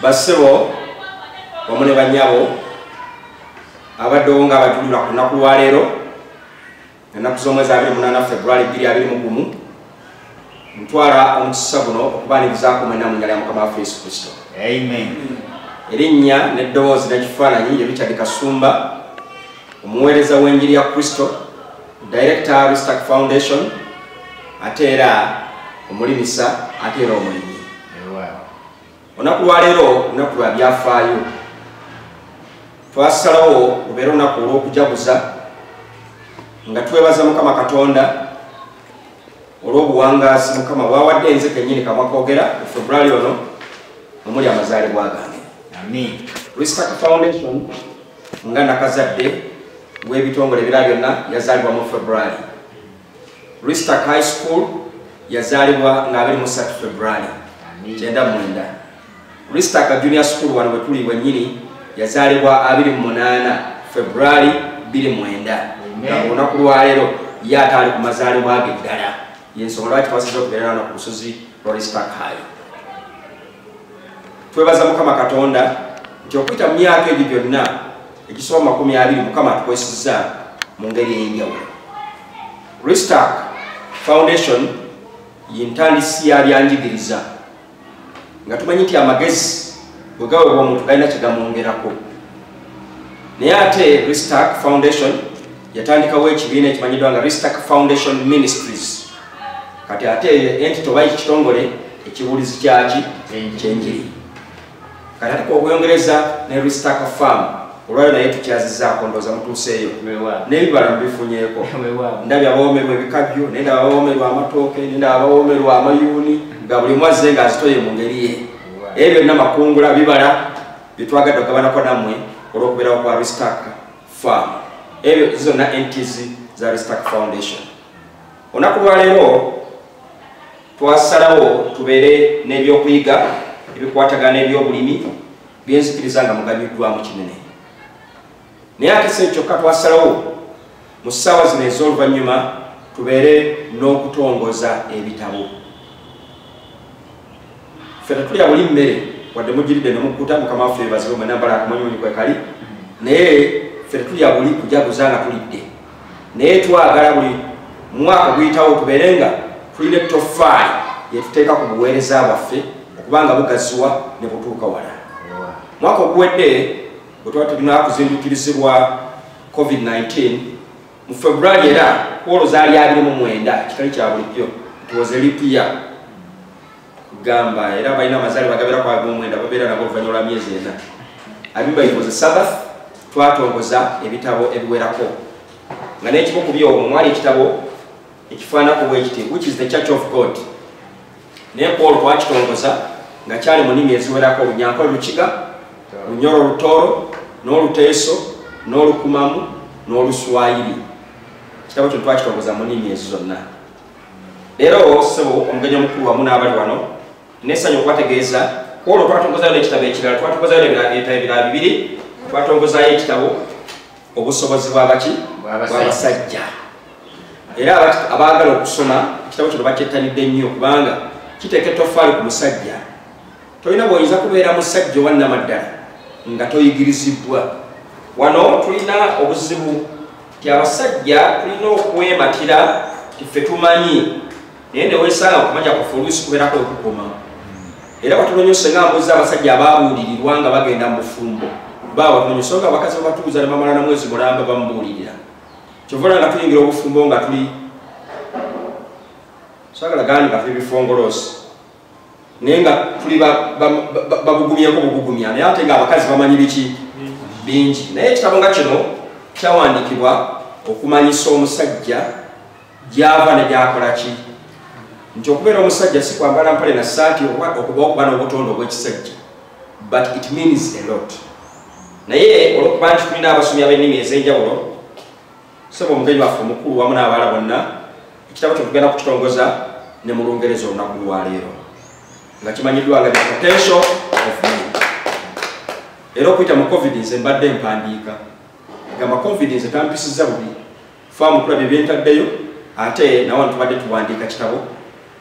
bassebo wamu ne bannyabo abaddewo nga abatulula ku lunaku lwaleero ennaku z'omwezi 28 februari 221 ntwala omukisa guno okubaanirizaako mwena mu nyala ya mukama waffe yesu kristo erinnya n'eddoboozi n'ekifaananyi ye richard kasumba omuweereza w'enjiri ya kristo director ristack foundation ate era omulimisa ate era omulimi olunaku lwaleero lunaku lwa byafaayo twasalawo lubeera olunaku olw'okujaguza nga twebaza mukama katonda olw'obuwangaasi mukama bwawadde enze kenyini kamwa kogera mu february ono omuli amazaalibwa gange respect foundation nga nakazadde w'ebitongole ebira byonna yazaalibwa mu february Ristak High School yazaalibwa nga 23 February 99. Ristak Junior School wano bwe tuli wennyini yazaalibwa 28 February 29. Olunaku lwaleero ye ataali ku mazaalibwa ge ddala y'ensonga lwaki twasiza okubeera wano ku lusozi lwa Ristak High. Twebaza Mukama Katonda nti okuyita mu myaka egyo gyonna egisoba makumi abiri mukama atukwesiza mu ngeri eyenjawulo restark foundation yintandisi ya byanjigiriza nga tumanyi nti amagezi bwegawebwa omuntu galina kyegamwongerako naye ate restark foundation yatandikawo ekibiina ekimanyiddwa nga restark foundation ministries kati ate entito bayi kitongole ekibuulizi kyaki kyenjiri Kati ko gwongereza ne Ristaka Farm olwayo naye tukyazizaako ndooza mutuuseeyo n'ebibala mubifunyeeko ndabye abawoomerwa ebikajjo naye ndaba abawoomerwa amatooke naye ndaba abawoomerwa amayuuni nga buli mwazze nga azitoye mu ngeri ye ebyo byonna makungula bibala byetwagadde okugabanako nammwe olw'okubeerawo kwa Ristaka Farm ebyo zonna entizi za Ristaka Foundation olunaku lwaleero twasalawo tubeere n'ebyokuyiga ebikwatagana n'ebyobulimi byenzikiriza nga muganyuddwamu kinene naye ate se kyokka twasalawo mu ssaawa zino ez'oluvannyuma tubeere n'okutongoza ebitabo fe tetulya buli mmere wadde mugiridde nemukkuta mukama waffe ebazibe mwenambala akamanyimanyi kwekali naye fe tetulya buli kujaguza nga tulidde naye twagala buli mwaka guyitawo tubeere nga tulina ettofaali yetuteeka ku buweereza bwaffe okubanga bugaziwa ne butuuka wala mwaka oguwedde bwe tuba tulina kuzindukirizibwa covid-19 mu february era kwolo zaali abiri mu mwenda kitali kya bulijjo tuwoze lipiya gamba era balina amazaali bagabira kwa gomwenda babeera nago oluvannyuma lwa myezi ena abimba ifoze sabath twatongoza ebitabo ebiwerako nga n'ekimu ku byomwo mwali ekitabo ekifaanako bwekiti which is the church of god naye ku olwo twakitongoza nga kyali mu nimi eziwerako olunyanko lukiga lunyoro olutooro n'oluteeso n'olukumamu n'oluswayiri kitabo kino twakitongoza mu nimi ezo zonna leero sebo omugenyi omukulu wamu n'abali wano nesanyu okubategeeza kwolwo twatongozayo n'ekitabo ekirala twatongozayo ebitabo ebirala bibiri twatongozayo ekitabo obusobozi bwabaki bwabasajja era abaagala okusoma ekitabo kino bakyettanidde nnyo kubanga kiteeka ettofaali ku musajja tolina bwoyinza kubeera musajja owannamaddala nga toyigirizibwa wano tulina obuzibu nti abasajja tulina okwematira nti ffe tumanyi naye newesanga okumanya kufe oluusi kubeerako okukoma era batulonyose nga mbuzi abasajja ababuulirirwa nga bagenda mu bufumbo babatunonyose nga abakazi babatuuza ne bamala na mwezi mulamba bamubuulirira kyovola nga tuyingira obufumbo nga tuli sagala gandi kafe ebifongoloosi naye nga tuli bagugumyeko bugugumya naye ate nga abakazi bamanyi biki bingi naye ekitabo nga kino kyawandiikibwa okumanyisa omusajja gyava ne gyakola ki nti okubeera omusajja si kwambala mpale na saati okuba okuba n'obutondo obw'ekisajja but it means a lot naye olwokuba nti tulina abasomi ab'ennimi ez'enjawulo saba omugenyi waffe omukulu wamu n'abaala bonna ekitabo kyo tugenda kukitongoza ne mu lungereza olunaku lwaleero nga kimanyiddwa nga potential of me era okuyita mu covid nze mbadde empandiika gamba covid nze tampisizza bubi faamu kulabye byentaddeyo ate nawa ntubadde tuwandiika kitabo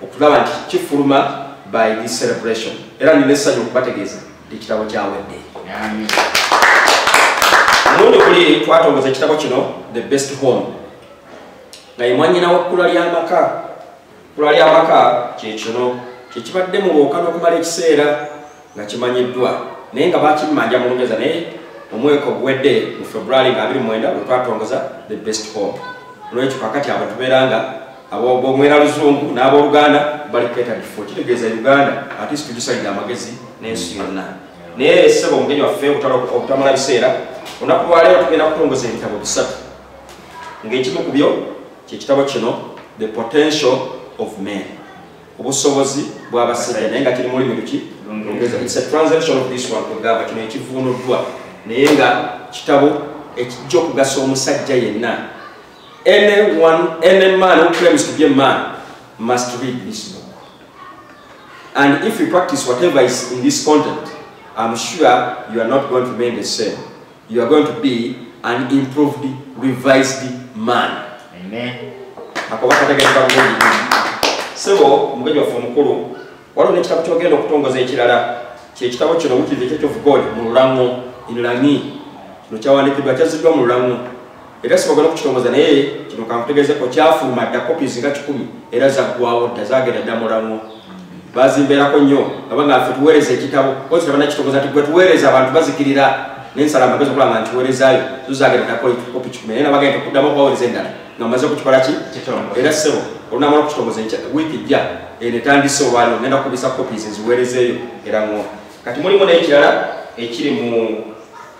okugamba nti kifuluma by this celebration era nina essanyu okubategeeza ekitabo kyawedde mulundi kuli twatongoza ekitabo kino the best home nga ye mwanyinawo kkula ly'amaka kkula ly'amaka kyekino kyekibadde mu bwoka n'okumala ekiseera nga kimanyiddwa naye nga bakimmanja mu lungereza naye omweka oguwedde mu february nga 29 lwe twatongoza the best hope olwekyo kakati abo tubeera nga abomwera luzungu n'abooluganda bali ketadifo kitegeeza uganda ate situgisalidde amagezi n'ensi yonna naye esaba omugenyi waffe obutamala biseera olunaku lwaleero tugenda kutongoza ebitabo bisatu ng'ekimu ku byo kyekitabo kino the potential of man obusobozi bw'abasajja naye nga kiri mulimu luki it's a transaction of this one kugamba kino ekivuunuddwa naye nga kitabo ekijja okugasa omusajja yenna anyone any man who claims to be a man must read this book and if you practice whatever is in this content i'm sure you are not going to remain the same you are going to be an improved revised man amen akoba kategereka bulungi sebo omugenyi waffe omukulu waliwo n'ekitabo kyogenda okutongoza ekirala kyekitabo kino wikiri the church of god mu lulango in langi kino kyawandikiddwa kyaziddwa mu lulango era sibagala okukitongoza naye kino kankutegezeko kyafuluma dda copies nga kikumi era zaggwawo dda zagenda dda mulamwa bazimbeerako nnyo abanga ffe tuweereza ekitabo kozi tabana kitongoza nti gwe tuweereza abantu bazikirira nensala amagezi okulaba nga ntiweerezaayo zuzagenda dda kopi kikumi naye nabagenda okuddamu okubaweereza endala nga maze okukikola ki era sebo olunamala okukitongoza wiiki jja eno etandise olwaliro ngenda kukubisa copies nziweerezeeyo era ngoo kati mulimu n'ekirala ekiri mu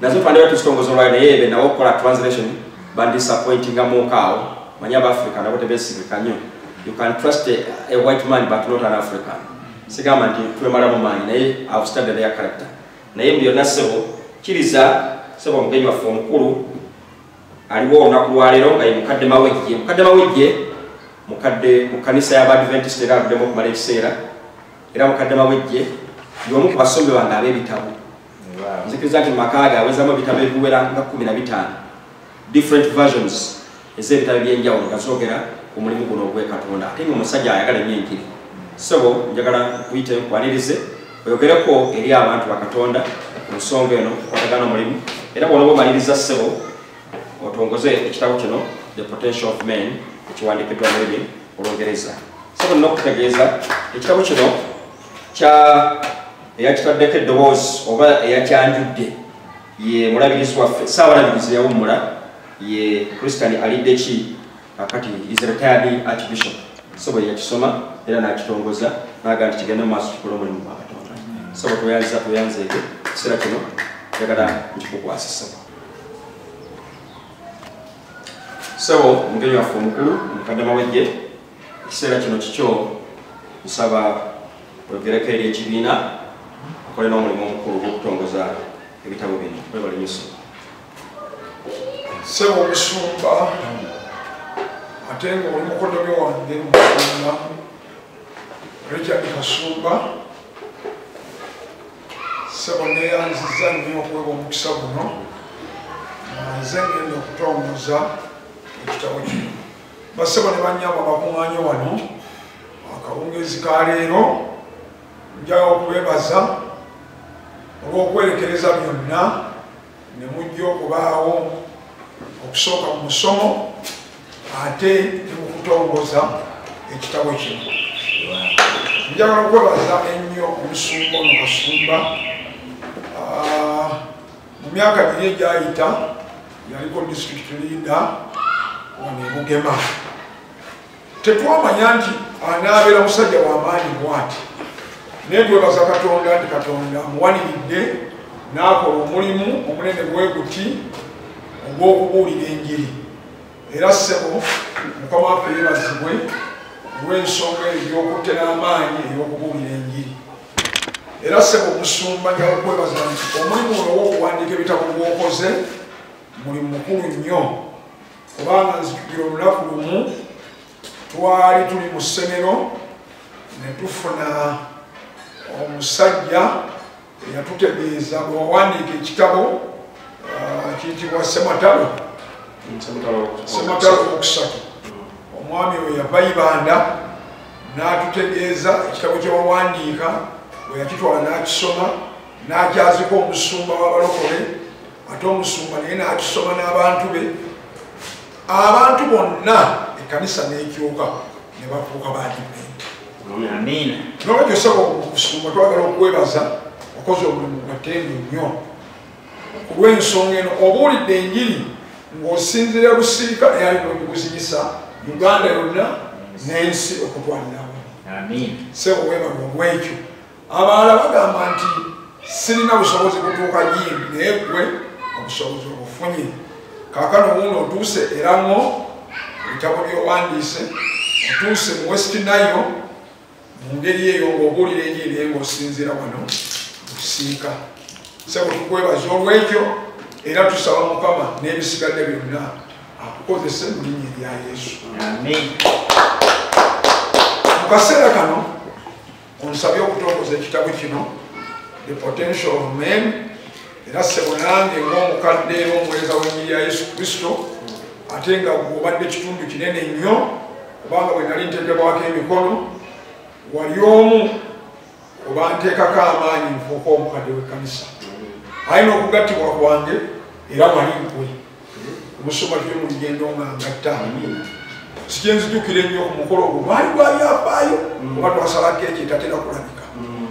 nazo twandibadde tuzitongoza olwayo naye be nabo okukola translation bandisappointinga muukaawo manya abaafrica nabo tebesigika nnyo you can trust a, a white man but not an african sigamba nti twemala mu maanyi naye have studied their character naye mbu yonna sebo kiriza sebo omugenyi waffe omukulu aliwo olunaku lwaleero nga ye mukadde mawejje mukadde mawejje mukadde mu kanisa y'abadventist era aluddemu okumala ekiseera era mukadde mawejje y'omu ku basomi bange ab'ebitabo nzikiriza nti mumaka ge awezamu ebitabo ebiwera nga kumi na bitaano different versions ez'ebitabo ebyenjawulo nga zogera ku mulimu guno ogwekatonda ate nga omusajja ayagala enyo enjiri sebo njagala kuyita enkwanirize oyogereko eri abantu bakatonda ku nsonga eno okwatagana omulimu era bwonoba omaliriza sebo otongoze ekitabo kino the potential of men ekiwandikiddwa muli olungereza sebo nina okutegeeza ekitabo kino kya eyakitaddeko eddoboozi oba eyakyanjudde ye mulabirizi waffe saabalabirizi yawummula ye christian alidde ki akati is retired archbishop sobo eyakisoma era n'akitongoza naaga nti kigenda mu maaso kikola omulimu gwa katonda sobo tweyanziza tweyanzeege ekiseera kino njagala nkikukwasa sobo sobo omugenyi waffe omukulu mukaddama wejje ekiseera kino kikyo nsaba Oyogereko eri ekibiina okole n'omulimu omukulu ogw'okutongoza ebitabo bino webale nyoso sebo omusumba ate nga oli mukodomi wange mumusumba richard kasumba sebo neyanziza nnyo okuwebwa omukisa guno nze ngenda okutongoza ekitabo kino basebo ne banyabo abakuŋanye wano akawungezi ka leero njaga okubebaza olw'okwerekereza byonna ne mujja okubaawo okusooka mu musomo ate ne mu kutongoza ekitabo kino njagala okwebaza ennyo omusumba ono kasumba ah, mu myaka giri egyayita yaliko district leader wano emugema tetwamanya nti anaabeera musajja wamaanyi mwati naye twebaza katonda nti katonda amuwaniridde n'akola omulimu omunene bweguti ogw'okubuulira enjiri era ssebo mukama waffe yebazibwe olw'ensonga eyokutta n'amaanyi ey'okubuulira enjiri era ssebo omusumba njakwebaza nti omulimu olwowokuwandiika ebitabo gwokoze mulimu mukulu nnyo kubanga nzijukira olunaku lumu twali tuli mu ssemero ne tufuna omusajja eyatutegeeza bwewawandiika ekitabo uh, kiyitibwa sematalo sematalo okusatu omwami we yava ibanda n'atutegeeza ekitabo kyewawandiika bwe yakitwala n'akisoma n'akyazika omusumba w'abalokole ate omusumba naye n'atusoma n'abantu be abantu bonna ekkanisa n'ekyuka ne bafuuka baadiventi nolwekyo saba okusumba twagala okwebaza okoze omulimu gatendo nnyo ku lw'ensonga eno obuulidde enjiri ng'osinzira busiika eyali nogikuzinyisa uganda yonna n'ensi okutwalirawo sebo webalwa omwekyo abalala bagamba nti sirina busobozi kutuuka yindi naye gwe obusobozi obufunye kakano wuuno otuuse era ngo ebitabo byowandiise otuuse mu west nayo mu ngeri eyo ngaobuulira enyi naye ngaosinziira wano okusiika sebo tukwebaza olwekyo era tusaba mukama n'ebisigadde byonna akukozese mu linya erya yesu mu kaseera kano Onsabye okutongoza ekitabo kino The Potential of Men era ssebo nange ng'omukadde era omuweereza w'ennyiri ya Yesu Kristo ate nga gwobadde kitundu kinene nnyo kubanga bwe nali nteekebwako emikono wali omu obanteekako amaanyi nfuuka omukadde w'ekkanisa ayi n'okugattibwa kwange era wali nkwe omusoma tuli mu lugendo nga ngatta sikyenzijukira ennyo omukolo ogwo gwali gwabyafaayo mm. oba twasalako ekyo etatera kulabika mm.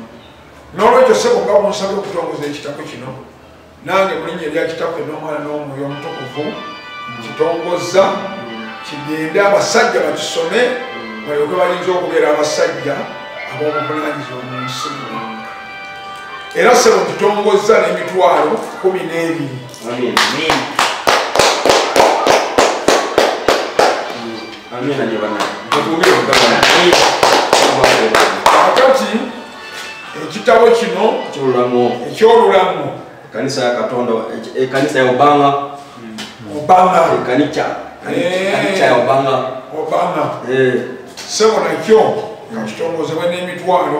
n'olwekyo sebo nga bunsabye okutongoza ekitabo kino nange mulinya erya kitaffe n'omwana n'omwoyo omutukuvu kitongozza mm. kigende abasajja bakisome balyoke bayinza okubeera abasajja ab'obuvunanyizibwa mu nsi era sebo kitongozza n'emitwalo kumi n'ebiri akati ekitabo kino ekyolulamu ekanisa ya katonda ekanisa ya obanga obanga ekanikya ekanikya ya obanga obanga sebo nakyo kakitongozebwa n'emitwalo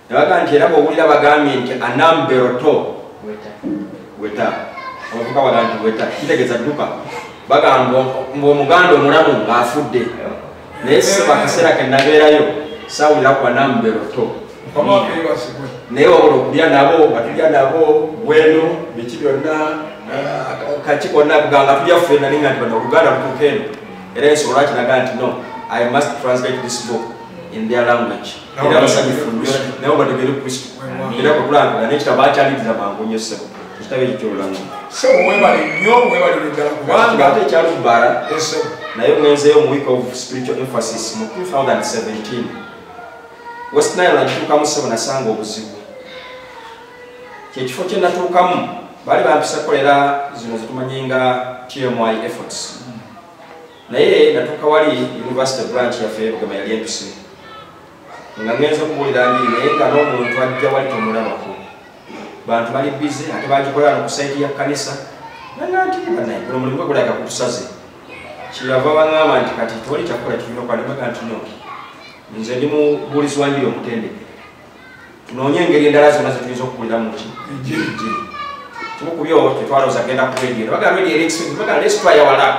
Nabaga nti era bwowulira bagambye nti anamberoto weta omuvuka waga nti weta kitegeza dduka bagamba ngaomuganda omulamu ngaafudde naye siba akaseera ke nabeerayo saawulira ku anamberoto naye wabula okulya nabo nga tulya nabo bweno biki byonna kaki konna kuganga tulya ffe nali nga nti bano oluganda lutuuka eno era ensobola kinaga nti no i must translate this book in their language era basanyufu nnyo nabo bategere kristo era kwekulambula nekitabo akyaliriza mangu nnyo ssebo ekitabo ekyo kyolulamu sebo webale nnyo webalire ddala kubanga ate ekyalubbala naye mwenzeeyo mu week of spiritual emphasis mu 2017 west nile nagituukamu ssebo nasanga obuzibu kyekifo kye natuukamu baali bampisa kukolera zino zetumanyi nga tmi efforts naye natuuka wali university branch yaffe yebugama yali entuse nga ngenza okubuulira njiri naye nga n'omuntu ajja wali tomulabako bantu bali bize ate bagikolera no ku saidi ya kanisa nanantiibanaye guno mulimu gwegulaga kutusaze kyeyava baŋamba nti kati tewali kyakukola kirina okwandibaga nti no nze ndi mubuulizi wanjiri omutendeke tunoonye engeri endala zonna zetuyinza okukuliramu ki enjiri kimu ku byo tetwalooza genda ku radio ne bagala radio eriexpensive bagala let's try our luck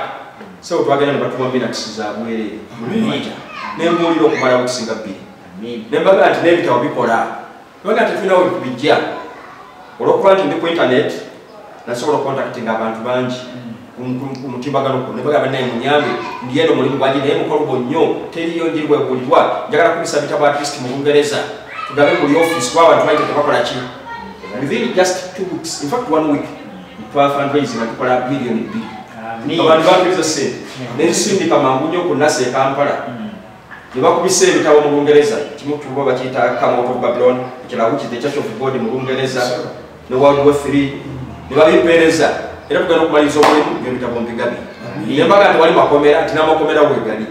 so twagenda ne batuma minakisi za bwereere ne mbuulira okumala okusinga bbiri ne mbagala nti n'ebitabo bikola bagala tetulinawo bijja olwokuba nti ndi ku internet nasobola okukontaktinga abantu bangi kumutimbagano kuno nebagamba naye munyambe ndiyeno mulimu gwangi naye mukolgo nnyo teriyo njiri bwegulibwa njagala kubisa bitabo atlist mu bungereza tugabe muli office kuba abantu baite tebakola ki within just two weeks infact one week twafundraise nga tukola biliyoni bbiri abantu bakiriza sente nensindika mangu nnyo ku nasa ekampala mm. ne bakubisa ebitabo mu lungereza kimu kutuba bakiyita camout of babylon ekirala which is the church of god mu lungereza ne world war three ne babimpeereza era tugenda okumaliriza omulimu byebitabo mbigabi naye mbaga nti wali makomera nti namakomera wegali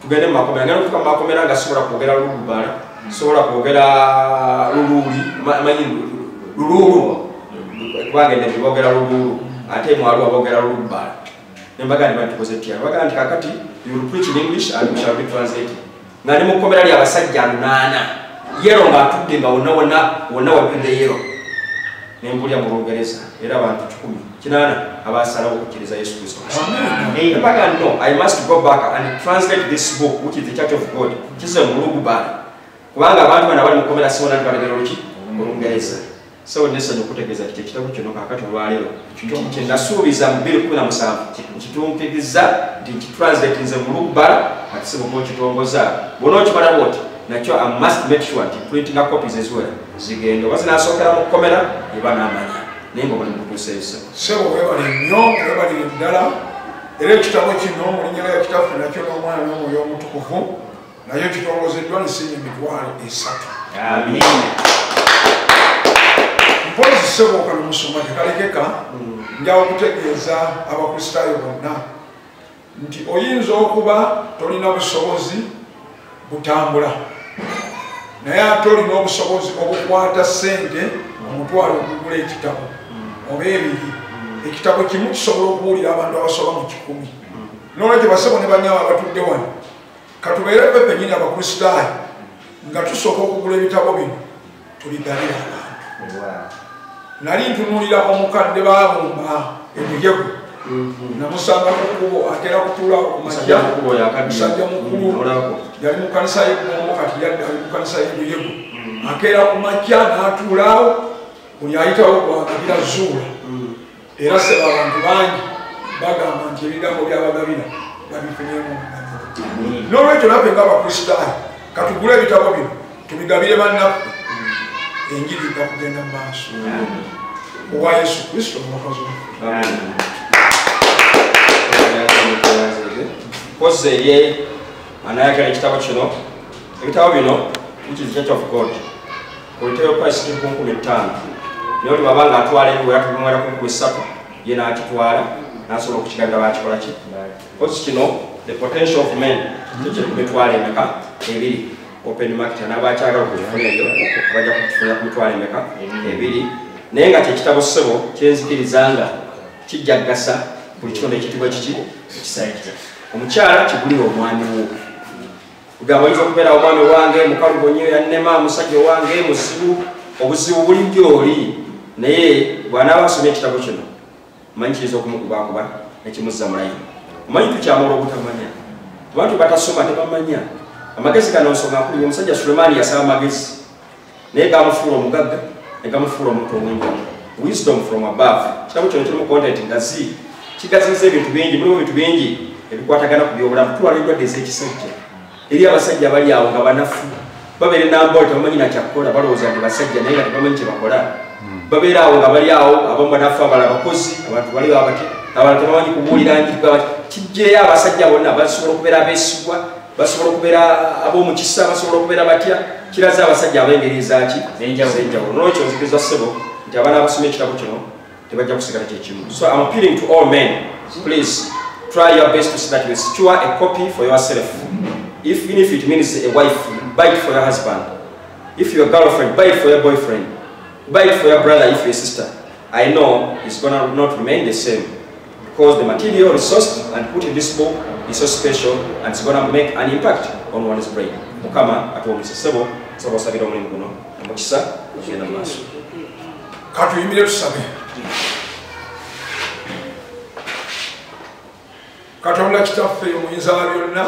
tugende mu makomera ngenda okutuka mu makomera nga sobola kwogera lulubala sobola kwogera luluuli manyi luluulu kubanga enebibogera luluulu ate mwaliwo abogera lulubala nembaga ne batukoze tya baga nti kakati you will preach in english and we shall be translated nga ne mukomera lya basajja nana yero nga tutte nga wonna wonna wonna wapinde yero ne mbulya mu lungereza era abantu kikumi kinana abasalawo okukiriza yesu kristo nembaga no i must go back and translate this book which is the church of god kize mulugubala kubanga abantu bana bali mukomera siwona nti balegera oluki mu lungereza Sawa nesonyi okutegeeza nti ekitabo kino kakati olwaleero kye nasuubiza mu bbiri kumi na musanvu kitunkirizza nti nkitranslatinze mu lubbala kati sibuka okitongoza bona okimala bwoti nakyo i must make sure nti printinga copies eziwera zigenda oba zinasookera mu kkomera eba n'amanya naye nga omulimu gutuuseeyo sebo webale nnyo webalire ddala era ekitabo kino mu linnya lya kitaffe nakyo n'omwana n'omwoyo omutukuvu naye tutongozeddwa nsinya emitwalo esatu mpozi sebooka nomusoma tekalekeka mm. njawo kutegeeza abakristaayo bonna nti oyinza okuba tolina busobozi butambula naye ate olina obusobozi obukwata sente omutwalo okugula ekitabo mm. oba ebiri mm. ekitabo kimu kisobola okuwulira abantu abasoba mu kikumi nolwekyo basebo ne banyabo abatudde wano katubeere ffe fenyini abakristaayo nga tusooka okugula ebitabo bino tubigabira abantu nali ntunulira omukadde babumba ebiyego mhm. namusanga kukubo atera kutula kumaja musajja mukulu mhm, yali mukanisa yegongo kati yadde ali mukanisa yebiyego mhm. akeera kumaja natulaawo buli ayitawo gwagabira zuula era saba abantu bangi bagamba nti ebigambo byabagabira babifunyemu n'olwekyo naffe nga abakristaayo katugule ebitabo bino tubigabire bannaffe enjiri ija kugenda mu maaso owa yesu kristo omulokozi kozi eri anayagala ekitabo kino ebitabo bino which is church of god olutebe kwasiti ku nkumi ttaano naye oli baba ngaatwala ebiwe atubimwera ku nkumi ssatu ye n'akitwala n'asobola okukigabira bakikola ki kosi kino the potential of men ekyo kumitwala emeka ebiri open market n'abakyagala okukifuna eyo bajja kukifuna ku mitwala emeka ebiri naye nga kyekitabo ssebo kyenzikiriza nga kijja kugasa buli kitonde ekitibwa kiki ekisajja omukyala kigulira omwami wo kugamba oyinza okubeera omwana owange mukalubo nyo yannema musajja owange muzibu obuzibu buli gyoli naye bwanaaba asomye ekitabo kino manyi kiyinza okumukubakuba nekimuzza mulayi omanyi tukyamala obutamanya abantu batasoma tebamanya amagezi gano nsonga nkulu omusajja sulemaani yasaba amagezi naye gamufuula omugagga ne gamufuula omuntu omwingi wisdom from above kitabo kyono kirimu content ngazi kigaziza ebintu bingi mulimu ebintu bingi ebikwatagana ku byobulamu tulwala endwadde ez'ekisajja eri abasajja abali awo nga banafu babeera enambole tebamanyi nakyakukola balowooza nti basajja naye nga tebamanyi kyebakola hmm. babeera awo nga bali awo abamu banafu abala abakozi abantu bali abati abantu tebamanyi kubuulira njigwa kijjeeyo abasajja bonna basobola okubeera abeesigwa basobola okubeera ab'omukisa basobola okubeera batya kiraza abasajja ab'engeri ezaaki ezenjawulo nolwekyo nzikiriza ssebo nti abaana abasoma ekitabo kino tebajja kusigala kyekimu so am appealing to all men please try your best to see that you secure a copy for yourself if, even if it means a wife buy it for your husband if your girlfriend buy it for your boyfriend buy it for your brother if your sister i know it's gonna not remain the same Because the material resourced and put in this book is so special and it's going to make an impact on one's brain. Mukama atuwomesa sebo sebo sabira omulimu guno omukisa ogenda mu maaso. Katuyimire tusabe. Katonda kitaffe omuyinza wa byonna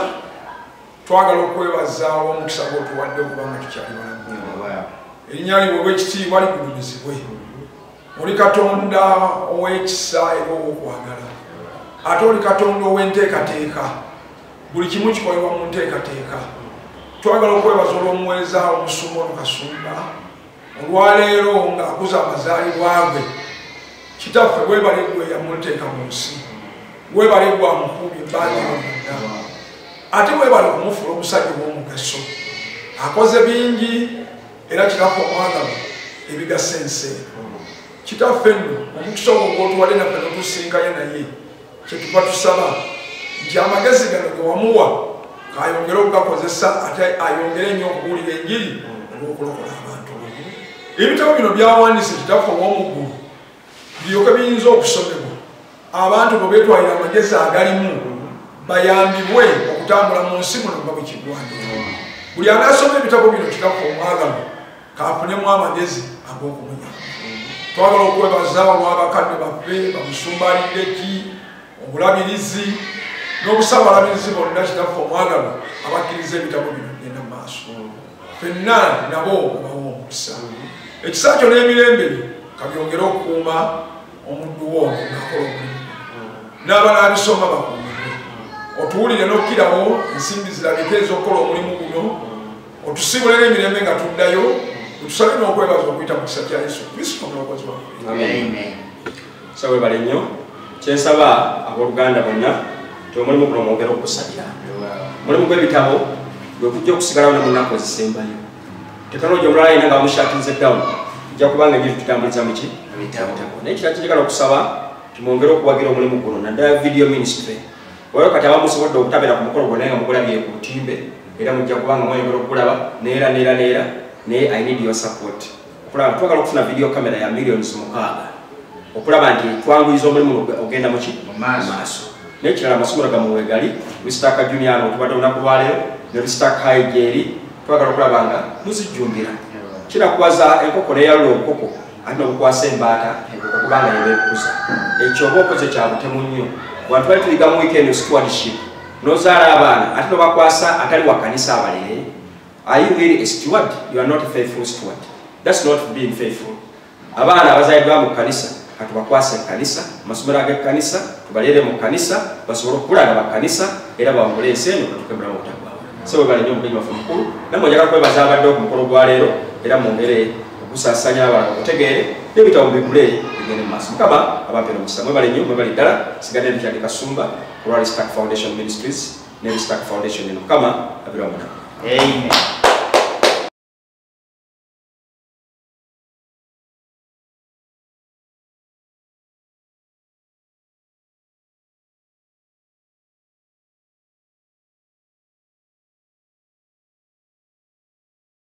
twagala okwebaza olw'omukisa gw'otuwadde okubanga tukyali balamu. Erinnya lyo bw'ekitiibwa ligulumizibwe. oli katonda ow'ekisa era ow'okwagala ate oli katonda ow'enteekateeka buli kimu kikolebwa mu nteekateeka twagala okwebaza olw'omuweereza omusumba ono kasumba olwaleero ng'akuza amazaalibwa gwe kitaffe webale gwe yamuteeka mu nsi webale gwe amukuumi ebbanja lyonna ate webale okumufuula omusajja ow'omugaso akoze bingi era kirako omwagalo ebigasa ensi kitaffe nno omukisa ogwo gwotuwade naffe notusinkanye naye kyetuva tusaba nti amagezi gano gewamuwa ayongere okugakozesa ate ayongere nnyo okubuulira enjiri olwokulokola abantu ebitabo bino byawandise kitaffe owomuggulu byoka biyinza okusomebwa abantu bwe beetwalira amagezi agalimu bayambibwe okutambula mu nsi muno nga bwekigwani buli anaasoma ebitabo bino kikafa omwagalo kafunemu amagezi ag'okumunya twagala okwebaza olw'abakadde baffe bamusumbalidde ki obulabirizi n'obusawo balabirizi bonna kitaffe omwagalwa abakkiriza ebitabo bino genda mu maaso fenna nabo obawa omukisa ekisa kyo n'emirembe byo kabyongere okukuuma omuddu wo ono nakola omulimu n'abanaabisoma bakuumire otuwulire n'okkirawo ensimbi zirabika ez'okukola omulimu guno otusiibule n'emirembe nga tuddayo otusabe n'okwebaza okuyita mu kisa kya yesu kristo omulokozi waffe sa webale nnyo kyensaba aboluganda bonna ti omulimu guno mwogera okugusalira omulimu gw'ebitabo gwe kujja okusigalawo ne munaku ezisembayo tekinologi omulala yina nga bamushatinze down ojja kubanga enyo tutambuliza muki naye kira kinjagala okusaba timwongere okuwagira omulimu guno naddala video ministry olwo kati abamusobodde okutabera ku mukolo gwona nga mugulabye ku lutimbe era mujja kubanga mweyongera okukulaba neera neera neera naye i need your support okulaba twagala okufuna video camera ya millions mukaaga okulaba nti twanguyiza omulimu ogenda muki maaso nekirala amasomero gamwe wegali lusitaka junior ano tubadde olunaku lwaleero ne lusitaka hayi gyeri twagala okulaba nga muzijjumbira kirakuwaza enkoko neyalula obukoko ate nobukwasa embaata okuba nga yebekuza ekyo oba okoze kyabutemu nnyo wantu bali tuyiga mu weekend stewardship nozaala abaana ate nobakwasa atali wakanisa abalere Are you really a steward? You are not a faithful steward. That's not being faithful. Abaana abazalidwa mu kanisa katubakwase kanisa masomero age kanisa tubalere mu kanisa basobole okukula nga bakanisa era bawangule ensi eno batukemulamu obutagwa so webale nyo omugenyi waffe mukulu namwe njagala kwebaza abadde ku mukolo gwa leero era mwongere okusasanya abalala okutegeere n'ebitabo bigule bigende mu maaso mukama abampera omukisa mwebale nyo mwebale ddala sigadde ntukyali kasumba ku ralistak foundation ministries ne Rustak Foundation eno mukama abira muna Amen